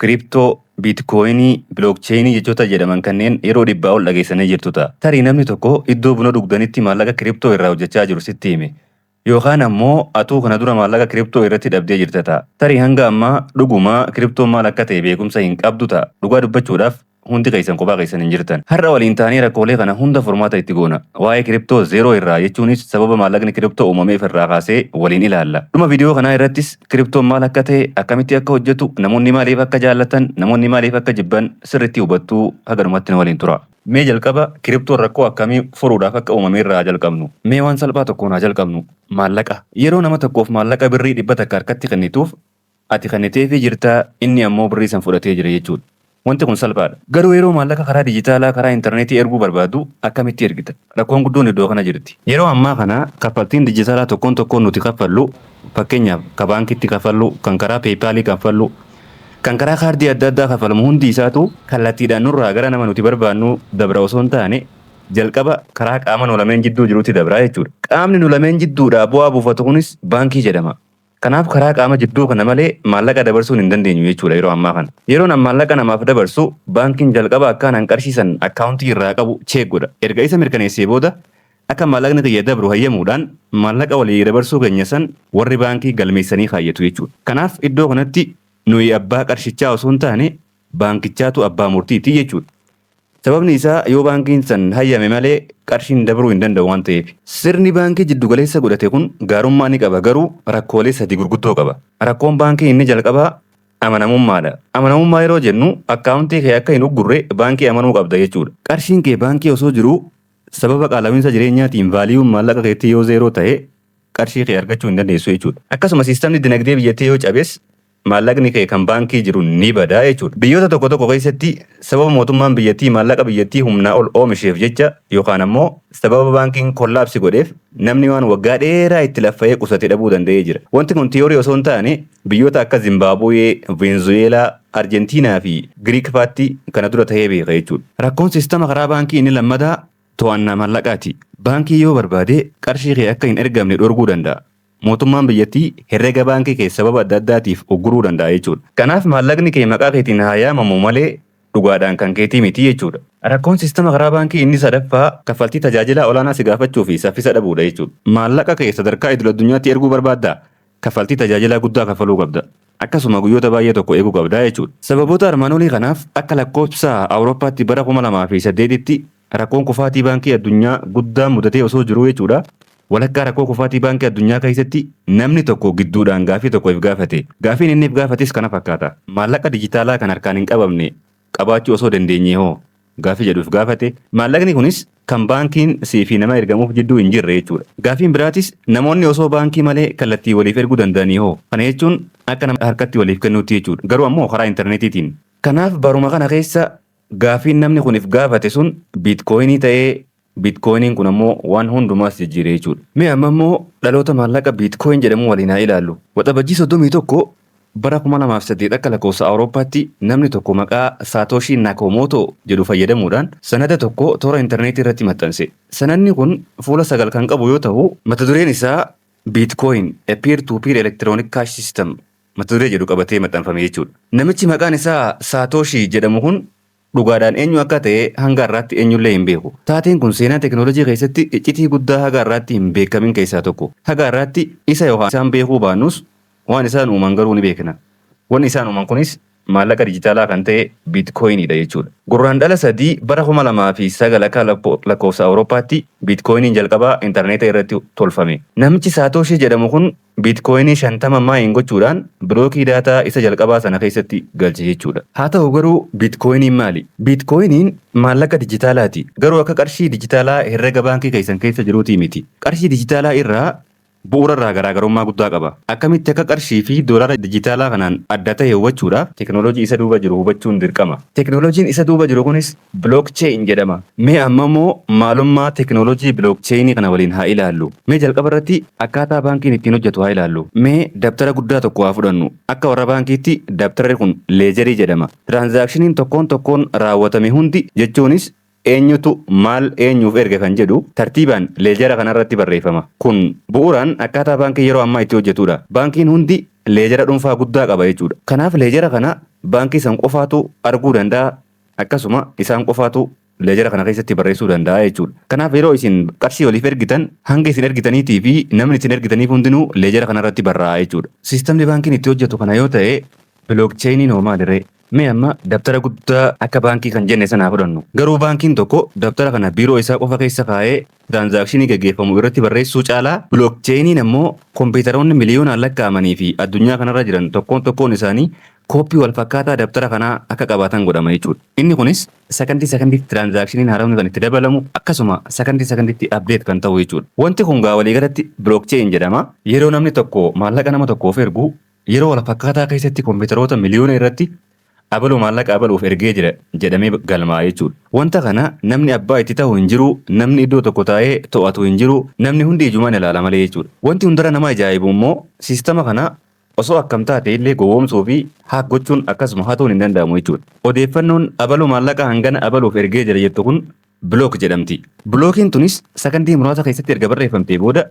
Kiriptoo, Biitkoyinii, Bilookcheyinii jechoota jedhaman kanneen yeroo dhibbaa ol dhageessanii jirtu ta'a. Tarii namni tokko iddoo buna dhugdanitti maallaqa kiriptoo irraa hojjechaa jiru sitti hime. Yookaan ammoo atuu kana dura maallaqa kiriptoo irratti dhabdee jirta ta'a. Tarii hanga ammaa dhuguma kiriptoon maal akka ta'e beekumsa hin qabdu ta'a. Dhugaa dubbachuudhaaf. Hundi keessan kophaa keessan hin jirtan. Har'a waliin taanee rakkoolee kana hunda furmaata itti goona. Waa'ee kiriptoo zeeroo irraa jechuunis sababa maallaqni kiriptoo uumameef irraa kaasee waliin ilaalla. Dhuma viidiyoo kanaa irrattis kiriptoon maal akka ta'e, akkamitti akka hojjetu, namoonni maaliif akka jaallatan, namoonni maaliif akka jibban sirriitti hubattu. Haga dhumaatti nu waliin turaa. Mee jalqaba kiriptoon rakkoo akkamii furuudhaaf akka uumame irraa haa jalqabnu. Mee waan salphaa tokkoon haa jalqabnu. Maallaqa. Yeroo nama tokkoof maallaqa birrii dhibba takka harkatti kennituuf Ati kenniteefii jirta, inni ammoo birrii san fudhatee jira jechuudha. Wanti kun salphaadha. Garuu yeroo maallaqa karaa dijitaalaa, karaa interneetii erguu barbaaddu akkamitti ergita? Rakkoon guddoon iddoo kana jirti. Yeroo ammaa kana kaffaltiin dijitaalaa tokkoon tokkoon nuti kaffallu, fakkeenyaaf ka baankiitti kaffallu, kan karaa PayPal kaffallu, kan karaa kaardii adda addaa kaffalamu hundi isaatuu kallattiidhaan nurraa gara nama nuti barbaannuu dabra osoo hin taane, jalqaba karaa qaama nu lameen jidduu jirutti dabra jechuudha. Qaamni nu lameen jidduudhaa bu'aa buufatu kunis baankii jedhama. Kanaaf karaa qaama jidduu kana malee maallaqa dabarsuun hin dandeenyu jechuudha yeroo ammaa kana. Yeroon an maallaqa namaaf dabarsu baankiin jalqaba akkaan an qarshii san akkaawuntii irraa qabu cheek godha. Erga isa mirkaneessee booda akka maallaqni kiyya dabru hayyamuudhaan maallaqa walii dabarsuu keenya san warri baankii galmeessanii kaayyatu jechuudha. Kanaaf iddoo kanatti nuyi abbaa qarshichaa osoo hin taane baankichaatu abbaa murtiiti jechuudha. Sababni isaa yoo baankiin san hayyame malee qarshiin dabruu hin danda'u waan ta'eef. Sirni baankii jiddu galeessa godhate kun gaarummaa ni qaba garuu rakkoolee sadii gurguddoo qaba. Rakkoon baankii inni jalqabaa amanamummaadha. Amanamummaa yeroo jennu akkaawuntii kee akka hin uggurre baankii amanuu qabda jechuudha. Qarshiin kee baankii osoo jiruu sababa qaalawiinsa jireenyaatiin vaaliyuun maallaqa keetii yoo zeeroo ta'e qarshii kee argachuu hin dandeessu jechuudha. Akkasuma siistamni dinagdee biyyattii yoo cabes maallaqni kee kan baankii jiru ni bada jechuudha. Biyyoota tokko tokko keessatti sababa mootummaan biyyattii maallaqa biyyattii humnaa ol oomisheef jecha yookaan ammoo sababa baankiin kollaapsi godheef namni waan waggaa dheeraa itti laffa'ee qusate dhabuu danda'ee jira. Wanti kun tiyoorii osoo hin taane biyyoota akka Zimbaabuwee, Veenzuweelaa, Arjentiinaa fi Giriik faatti kana dura ta'ee beeka jechuudha. Rakkoon siistama karaa baankii inni lammataa to'annaa maallaqaati. Baankii yoo barbaade qarshii kee akka hin ergamne dhorguu danda'a. mootummaan biyyattii herrega baankii kee sababa adda addaatiif ugguruu danda'a jechuudha. Kanaaf maallaqni kee maqaa keetiin haa yaamamu malee dhugaadhaan kan keetii miti jechuudha. Rakkoon siistama karaa baankii inni sadaffaa kaffaltii tajaajilaa olaanaa si gaafachuu fi saffisa dhabuudha jechuudha. Maallaqa kee sadarkaa idil-addunyaatti erguu barbaaddaa? Kaffaltii tajaajilaa guddaa kaffaluu qabda. Akkasuma guyyoota baay'ee tokko eeguu qabda jechuudha. Sababoota armaan olii kanaaf akka lakkoofsa Awurooppaatti bara 2008tti Rakkoon kufaatii Baankii Addunyaa guddaan mudatee osoo jiruu jechuudha. Walakkaa rakkoo kufaatii Baankii Addunyaa keessatti namni tokko gidduudhaan gaaffii tokko if gaafate. Gaaffiin inni if gaafates kana fakkaata. Maallaqa dijitaalaa kan harkaan hin qabamne qabaachuu osoo dandeenyee hoo? Gaaffii jedhu if gaafate. Maallaqni kunis kan baankiin si fi nama ergamuuf jidduu hin jirre jechuudha. Gaaffiin biraatis namoonni osoo baankii malee kallattiin waliif erguu danda'anii hoo? Kana jechuun akka nama harkatti waliif kennuutti jechuudha. Garuu ammoo karaa interneetiitiin. Kanaaf baruma kana keessa Gaaffiin namni kun if gaafate sun biitkooyinii ta'ee biitkooyiniin kun ammoo waan hundumaas jijjiire jechuudha. Mee amma immoo dhaloota maallaqa biitkooyin jedhamu waliin haa ilaallu. Waxabajjii 31 bara 2008 akka lakkoofsa Awurooppaatti namni tokko maqaa Saatoshii Nakoomootoo jedhu fayyadamuudhaan sanada tokko toora interneetii irratti maxxanse. Sanadni kun fuula sagal kan qabu yoo tahu mata dureen isaa Biitkooyin, A Peer-to-Peer Electronic Cash System mata duree jedhu qabatee maxxanfame jechuudha. Namichi maqaan isaa Saatooshii jedhamu kun dhugaadhaan eenyu akka ta'e hanga har'aatti eenyullee hin beeku. Taateen kun seenaa tekinoolojii keessatti iccitii guddaa haga har'aatti hin beekamin keessaa tokko. Haga har'aatti isa yookaan isaan beekuu baannus waan isaan uuman garuu ni beekna. Wanni isaan uuman kunis maallaqa dijitaalaa kan ta'e Biitkoyinii dha jechuu dha. Gurraandhala 3 bara 2009 akka lakkoofsa Awurooppaatti Biitkoyiniin jalqabaa intarneeta irratti tolfame. Namichi Saatooshii jedhamu kun Biitkoyinii 50 maayin gochuudhaan bilookii daataa isa jalqabaa sana keessatti galche jechuu dha. Haa ta'u garuu Biitkoyiniin maali? Biitkoyiniin maallaqa dijitaalaati. Garuu akka qarshii dijitaalaa herrega baankii keessan keessa jiruutii miti. Qarshii dijitaalaa irraa bu'uura irraa garaagarummaa guddaa qaba. Akkamitti akka qarshii fi doolaara dijitaalaa kanaan adda tahe hubachuudhaaf teeknooloojii isa duuba jiru hubachuun dirqama. Teeknooloojiin isa duuba jiru kunis Blockchain jedhama. Mee amma immoo maalummaa teeknooloojii Blockchain kana waliin haa ilaallu. Mee jalqaba irratti akkaataa baankiin ittiin hojjetu haa ilaallu. Mee dabtara guddaa tokko haa fudhannu. Akka warra baankiitti dabtarri kun leejarii jedhama. Tiraanzaakshiniin tokkoon tokkoon raawwatame hundi jechuunis Eenyutu maal eenyuuf erge kan jedhu tartiibaan leejara kana irratti barreeffama. Kun bu'uuraan akkaataa baankiin yeroo ammaa itti hojjetudha. Baankiin hundi leejara dhunfaa guddaa qaba jechuudha. Kanaaf leejara kana baankii san qofaatu arguu danda'a, akkasuma isaan qofaatu leejara kana keessatti barreessuu danda'a jechuudha. Kanaaf yeroo isin qarshii waliif ergitan hanga isin ergitaniitii fi namni isin ergitaniif hundinuu leejara kana irratti barraa'a jechuudha. Siistamni baankiin itti hojjetu kana yoo ta'e bilookcheeyiniin hoo maaliree? Mee amma dabtara guddaa akka baankii kan jenne sana haa fudhannu. Garuu baankiin tokko dabtara kana biiroo isaa qofa keessa kaa'ee tiraansaakshinii gaggeeffamu irratti barreessuu caalaa bilookcheeyiniin ammoo kompiitaroonni miliyoonaan lakkaa'amanii fi addunyaa kanarra jiran tokkoon tokkoon isaanii kooppii walfakkaataa dabtara kanaa akka qabaatan godhama jechuudha. Inni kunis sakandii sakandiitti tiraansaakshiniin haarawni kan itti dabalamu akkasuma sakandii sakandiitti update kan ta'u jechuudha. Wanti kun gaa waliigalatti bilookcheeyin jedhama. Yeroo namni tokko maallaqa nama tokkoof ergu Yeroo walfakkaataa keessatti kompiitaroota miliyoona irratti abaluu maallaqa abaluuf ergee jira jedhamee galmaa'a jechuudha. Wanta kana namni abbaa itti tahu hin jiru, namni iddoo tokko taa'ee to'atu hin jiru, namni hundi ijumaan ilaala malee jechuudha. Wanti hundarra nama ajaa'ibu immoo siistama kana osoo akkam taate illee gowwoomsuu fi hack gochuun akkasuma hatuun hin danda'amu jechuudha. Odeeffannoon abaluu maallaqa hangana abaluuf ergee jira jettu kun block jedhamti. Blockiin tunis sakandii muraasa keessatti erga barreeffamtee booda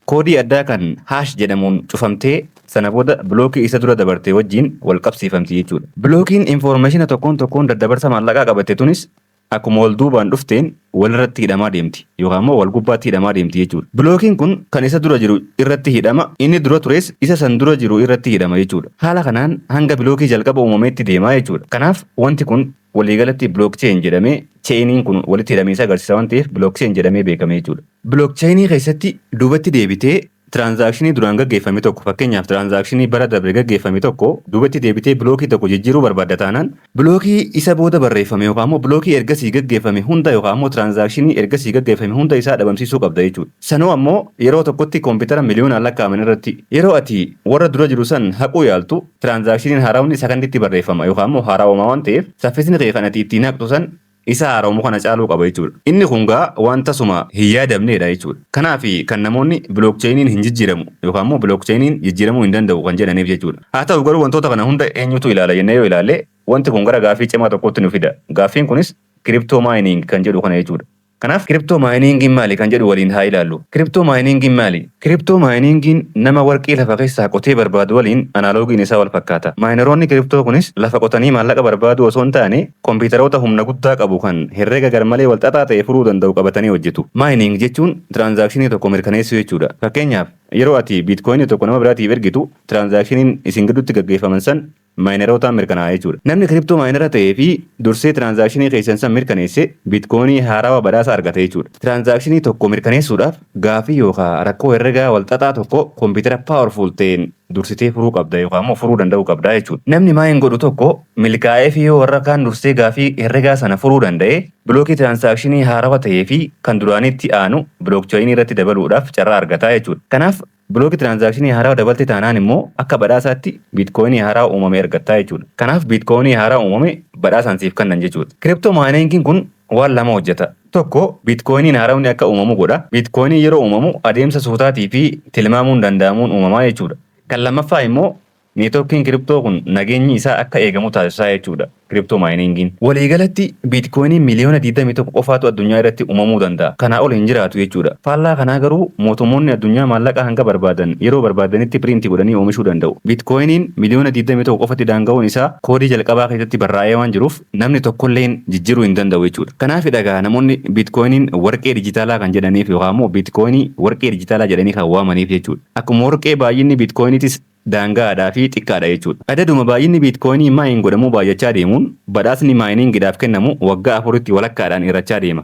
Koodii addaa kan hash jedhamuun cufamtee sana booda bilookii isa dura dabarte wajjin wal qabsiifamti jechuudha. Bilookiin infoormeeshina tokkoon tokkoon daddabarsa maallaqaa qabatte tunis akkuma wal duubaan dhufteen walirratti hidhamaa deemti yookaan immoo wal gubbaatti hidhamaa deemti jechuudha. Bilookiin kun kan isa dura jiru irratti hidhama, inni dura tures isa san dura jiru irratti hidhama jechuudha. Haala kanaan hanga bilookii jalqaba uumameetti deema jechuudha. Kanaaf wanti kun Waliigalatti blockchain jedhamee chainiin kun walitti hidhamiinsa agarsiisa waan ta'eef blockchain jedhamee beekame jechuudha. Blockchain keessatti duubatti deebitee transaction duraan gaggeeffame tokko fakkeenyaaf transaction bara dabre gaggeeffame tokko duubatti deebitee blockii tokko jijjiiruu barbaadda taanaan blockii isa booda barreeffame yookaan immoo blockii ergasii gaggeeffame hunda yookaan immoo transaction ergasii gaggeeffame hunda isaa dhabamsiisuu qabda jechuudha. Sanuu ammoo yeroo tokkotti koompitara miliyoonaan lakkaa'aman irratti yeroo ati warra dura jiru san haquu yaaltu Tiraanzaakshiniin haarawni sakanditti barreeffama yookaan immoo haarawamaa waan ta'eef saffisni kee kan ati ittiin haqxu san isa haarawamu kana caaluu qaba jechuudha. Inni kun gaa waan tasuma hin yaadamneedha jechuudha. Kanaaf kan namoonni bilookcheeyiniin hin jijjiiramu yookaan immoo bilookcheeyiniin jijjiiramuu hin danda'u kan jedhaniif jechuudha. Haa ta'u garuu wantoota kana hunda eenyutu ilaala jennee yoo ilaalle wanti kun gara gaaffii cimaa tokkootti nu fida. Gaaffiin kunis kiriptoo maayiniing kan jedhu kana jechuudha. Kanaaf kiriptoo maayiniingiin maali kan jedhu waliin haa ilaallu. Kiriptoo maayiniingiin maali? Kiriptoo maayiniingiin nama warqii lafa keessaa qotee barbaadu waliin anaaloogiin isaa wal fakkaata. Maayinaroonni kiriptoo kunis lafa qotanii maallaqa barbaaduu osoo hin taane kompiitaroota humna guddaa qabu kan herrega garmalee wal xaxaa ta'e furuu danda'u qabatanii hojjetu. Maayining jechuun tiraanzaakshinii tokko mirkaneessuu jechuudha. Fakkeenyaaf, yeroo ati biitkoyinii tokko nama biraatiif ergitu, tiraanzaakshiniin isin gidduutti gaggeeffaman san maayinerootaan mirkanaa'a jechuudha. Namni kiriptoo maayinera ta'ee fi dursee tiraansaakshinii keessan san mirkaneesse biitkoonii haarawa badhaasa argate jechuudha. Tiraansaakshinii tokko mirkaneessuudhaaf gaaffii yookaa rakkoo herregaa walxaxaa tokko kompiitara powerful ta'een dursitee furuu qabda yookaa immoo furuu danda'uu qabda jechuudha. Namni maayin godhu tokko milkaa'ee fi yoo warra kaan dursee gaaffii herregaa sana furuu danda'e bilookii tiraansaakshinii haarawa ta'ee fi kan duraaniitti aanu bilookchayinii irratti dabaluudhaaf carraa argata jechuudha. Kanaaf Block transaction haaraa dabalte taanaan immoo akka badhaasaatti Bitcoin haaraa uumame argattaa jechuudha. Kanaaf Bitcoin haaraa uumame badhaasaan siif kannan jechuudha. Crypto mining kun waan lama hojjeta. Tokko Bitcoin haarawni akka uumamu godha. Bitcoin yeroo uumamu adeemsa suutaatii fi tilmaamuun danda'amuun uumamaa jechuudha. Kan lammaffaa immoo Neetworkiin kiriptoo kun nageenyi isaa akka eegamu taasisaa jechuu dha, kiriptoo maayiniingiin. Walii galatti biitkoyiniin miliyoona 21 qofaatu addunyaa irratti uumamuu danda'a, kanaa ol hin jiraatu jechuu dha. Faallaa kanaa garuu mootummoonni addunyaa maallaqa hanga barbaadan yeroo barbaadanitti piriinti godhanii oomishuu danda'u. Biitkoyiniin miliyoona 21 qofatti daanga'uun isaa koodii jalqabaa keessatti barraa'ee waan jiruuf namni tokko illeen jijjiruu hin danda'u jechuu dha. Kanaafi dha egaa namoonni biitkoyiniin warqee dijitaalaa kan jedhaniif yookaan immoo biitkoyinii warqee dijitaalaa jedhanii kan waamaniif jechuu dha. Akkuma warqee baay'inni biitkoyiniitis daanga'aadhaa fi xiqqaadha jechuudha. Adaduma baay'inni biitkoyinii maayin godhamuu baay'achaa deemuun badhaasni maayiniingidhaaf kennamu waggaa afuritti walakkaadhaan hir'achaa deema.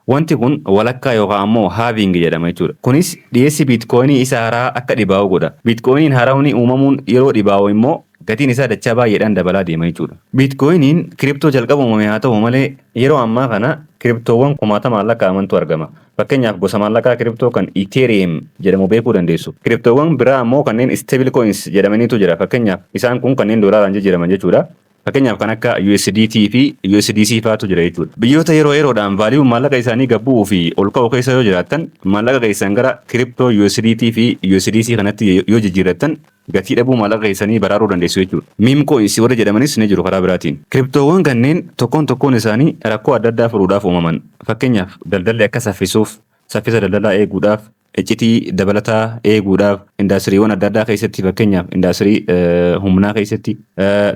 Wanti kun walakkaa yookaa ammoo halving jedhama jechuudha. Kunis dhiyeessi biitkoyinii isa harahaa akka dhibaa'u godha. Biitkoyiniin harawni uumamuun yeroo dhibaa'u immoo gatiin isaa dachaa baay'eedhaan dabalaa deema jechuudha. Biitkoyiniin kiriptoo jalqaba uumame haa ta'u malee yeroo ammaa kana kiriptoowwan kumaatamaan lakkaa'amantu argama. Fakkeenyaaf gosa maallaqaa kiriptoo kan Ethereum jedhamu beekuu dandeessu. Kiriptoowwan biraa ammoo kanneen stable coins jedhamaniitu jira. Fakkeenyaaf isaan kun kanneen doolaaraan jijjiiraman jechuudha. Fakkeenyaaf kan akka USDT fi USDC faatu jira jechuudha. Biyyoota yeroo yeroodhaan vaaliyuun maallaqa isaanii gad bu'uu fi ol ka'u keessa yoo jiraattan maallaqa keessan gara kiriptoo USDT fi USDC kanatti yoo jijjiirrattan gatii dhabuu maallaqa keessanii baraaruu dandeessu jechuudha. Meme coins warri jedhamanis ni jiru karaa biraatiin. Kiriptoowwan kanneen tokkoon tokkoon isaanii rakkoo adda addaa furuudhaaf uumaman. Fakkeenyaaf daldalli akka saffisuuf, saffisa daldalaa eeguudhaaf, iccitii dabalataa eeguudhaaf, indaastiriiwwan adda addaa keessatti fakkeenyaaf indaastirii humnaa keessatti,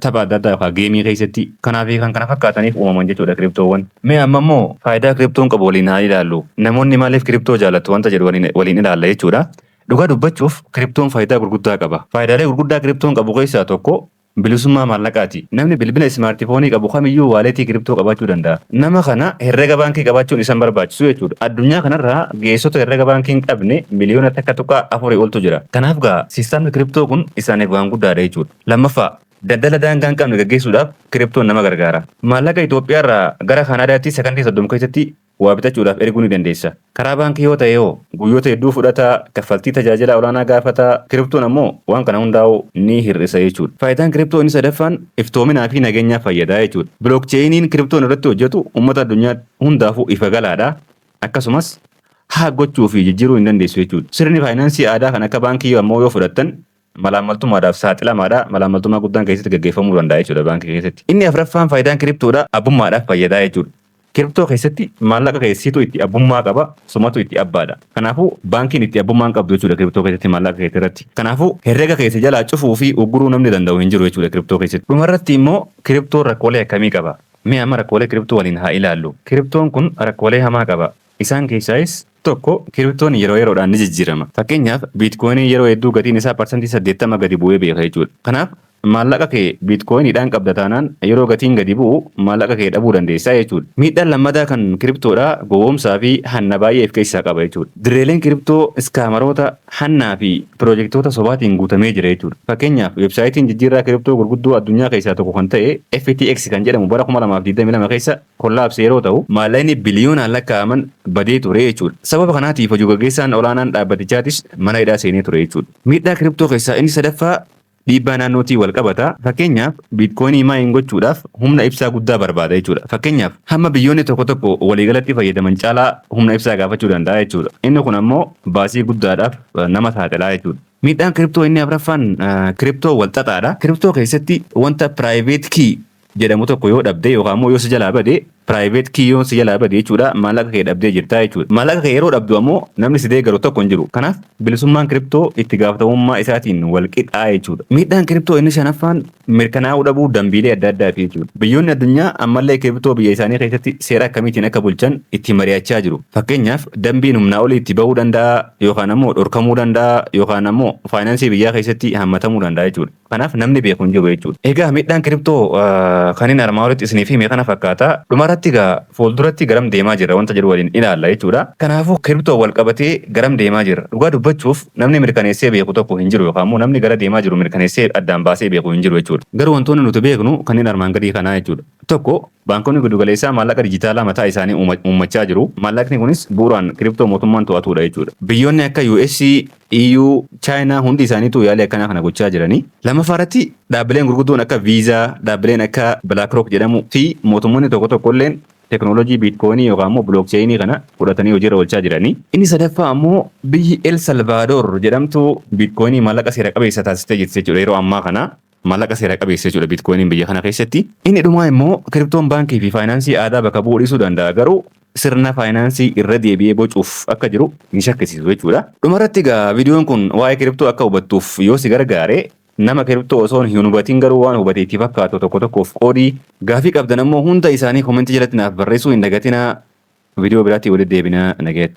tapha adda addaa yookaan geemii keessatti kanaa fi kan kana fakkaataniif uumaman jechuudha kiriptoowwan. Mee amma immoo faayidaa kiriptoon qabu waliin haa ilaallu. Namoonni maaliif kiriptoo jaalatu wanta jedhu waliin ilaalla jechuudha. Dhugaa dubbachuuf kiriptoon faayidaa gurguddaa qaba. Faayidaalee gurguddaa kiriptoon qabu keessaa tokko bilisummaa maallaqaati. Namni bilbila ismaartifoonii qabu kamiyyuu waaleetii kiriptoo qabaachuu danda'a. Nama kana herrega baankii qabaachuun isa hin barbaachisu jechuudha. Addunyaa kanarra geessota herrega baankii hin qabne miliyoona takka tuqaa afurii oltu jira. Kanaaf gaa siistamni kiriptoo kun isaaniif waan guddaadha jechuudha. Lammaffaa, daldala daangaa hin qabne gaggeessuudhaaf kiriptoon nama gargaara. Maallaqa Itoophiyaarraa gara Kaanaadaatti sakandii 30 keessatti waa bitachuudhaaf erguu ni dandeessa. Karaa baankii yoo ta'e hoo? Guyyoota hedduu fudhata, kaffaltii tajaajilaa olaanaa gaafata, kiriptoon ammoo waan kana hundaa'uu ni hir'isa jechuudha. Faayidaan kiriptoo inni sadaffaan iftoominaa fi nageenyaaf fayyada jechuudha. Bilookcheeyiniin kiriptoon irratti hojjetu ummata addunyaa hundaafuu ifa galaadha. Akkasumas, haak gochuu fi jijjiiruu hin dandeessu jechuudha. Sirni faayinaansii aadaa kan akka baankii ammoo yoo fudhattan malaammaltummaadhaaf saaxilamaadha. Malaammaltummaa guddaan keessatti gaggeeffamuu danda'a jechuudha baankii keessatti. Inni afraffaan faayidaan kiriptoodha abbummaadhaaf fayyadaa jechuudha. Kiriptoo keessatti maallaqa kee siitu itti abbummaa qaba, sumatu itti abbaadha. Kanaafuu baankiin itti abbummaa hin qabdu jechuudha kiriptoo keessatti maallaqa keetti irratti. Kanaafuu herrega keessa jalaa cufuu fi ugguruu namni danda'u hin jiru jechuudha kiriptoo keessatti. Dhumarratti immoo kiriptoon rakkoolee akkamii qaba? Mee amma rakkoolee kiriptoo waliin haa ilaallu. Kiriptoon kun rakkoolee hamaa qaba. Isaan keessaayis tokko kiriptoon yeroo yeroodhaan ni jijjiirama. Fakkeenyaaf biitkoyiniin yeroo hedduu gatiin isaa parsantii 80 gadi bu'ee beeka jechuudha. Kanaaf maallaqa kee biitkoyiniidhaan qabda taanaan yeroo gatiin gadi bu'u maallaqa kee dhabuu dandeessa jechuudha. Miidhaan lammataa kan kiriptoodhaa gowwoomsaa fi hanna baay'ee if keessaa qaba jechuudha. Dirreeleen kiriptoo iskaamaroota, hannaa fi piroojektoota sobaatiin guutamee jira jechuudha. Fakkeenyaaf weebsaayitiin jijjiirraa kiriptoo gurguddoo addunyaa keessaa tokko kan ta'e FTX kan jedhamu bara 2022 keessa Kun labse yeroo ta'u, maallaqni biliyoonaan lakkaa'aman badee ture jechuudha. Sababa kanaatiif hojii gaggeessaan olaanaan dhaabbatichaatis mana hidhaa seenee ture jechuudha. Miidhaa kiriptoo keessaa inni sadaffaa dhiibbaa naannootiin wal qabata. Fakkeenyaaf, biitkoyinii maayin gochuudhaaf humna ibsaa guddaa barbaada jechuudha. Fakkeenyaaf, hamma biyyoonni tokko tokko waliigalatti fayyadaman caalaa humna ibsaa gaafachuu danda'a jechuudha. Inni kun ammoo baasii guddaadhaaf nama saaxila jechuudha. Miidhaan kiriptoo inni afraffaan kiriptoo wal xaxaadha. Kiriptoo keessatti wanta private key jedhamu tokko yoo dhabde yookaan immoo yoo si jalaa bade private key yoon si jalaa bade jechuudha maallaqa kee dhabdee jirtaa jechuudha. Maallaqa kee yeroo dhabdu ammoo namni si deeggaru tokko hin jiru. Kanaaf bilisummaan kiriptoo itti gaafatamummaa isaatiin wal qixaa jechuudha. Miidhaan kiriptoo inni shanaffaan mirkanaa'uu dhabuu dambiilee adda addaati jechuudha. Biyyoonni addunyaa ammallee kiriptoo biyya isaanii keessatti seera akkamiitiin akka bulchan itti mari'achaa jiru. Fakkeenyaaf dambiin humnaa olii itti bahuu danda'a yookaan ammoo dhorkamuu danda'a yookaan ammoo faayinaansii biyyaa keessatti hammatamuu danda'a jechuudha. Kanaaf namni beeku hin jiru jechuudha. Egaa miidhaan kiriptoo kanin armaa olitti isiniif hime kana fakkaata. Dhumarratti egaa fuulduratti garam deemaa jirra wanta jedhu waliin ilaalla jechuudha. Kanaafuu kiriptoon walqabatee garam deemaa jirra? Dhugaa dubbachuuf namni mirkaneessee beeku tokko hin jiru yookaan immoo namni gara deemaa jiru mirkaneessee addaan baasee beeku hin jiru jechuudha. Garuu wantoonni nuti beeknu kanneen armaan gadii kanaa jechuudha. Tokko, baankonni gidugaleessaa maallaqa dijitaalaa mataa isaanii uummachaa jiru. Maallaqni kunis bu'uraan kiriptoo mootummaan to'atuudha jechuudha. Biyyoonni akka US, EU, Chaayinaa hundi isaaniitu yaalii akkanaa kana gochaa jirani. Lammaffaa irratti dhaabbileen gurguddoon akka Visa, dhaabbileen akka Blackrock jedhamu fi mootummoonni tokko tokko illeen teknooloojii Bitcoin yookaan immoo Blockchain kana fudhatanii hojii irra oolchaa jirani. Inni sadaffaa ammoo biyyi El Salvador jedhamtu Bitcoin maallaqa seera qabeessa taasistee jirti jechuudha yeroo ammaa kana. Maallaqa seera qabeessa jechuudha Bitcoiniin biyya kana keessatti. Inni dhumaa immoo kiriptoon baankii fi faayinaansii aadaa bakka bu'uu dhiisuu danda'a garuu sirna faayinaansii irra deebi'ee bocuuf akka jiru hin shakkisiisu jechuudha. Dhumarratti egaa viidiyoon kun waa'ee kiriptoo akka hubattuuf yoo si gargaare nama kiriptoo osoon hin hubatiin garuu waan hubate itti fakkaatu tokko tokkoof qoodi. Gaafii qabdan ammoo hunda isaanii komentii jalatti naaf barreessuu hin dagatinaa. Viidiyoo biraatti walitti deebina nagayatti.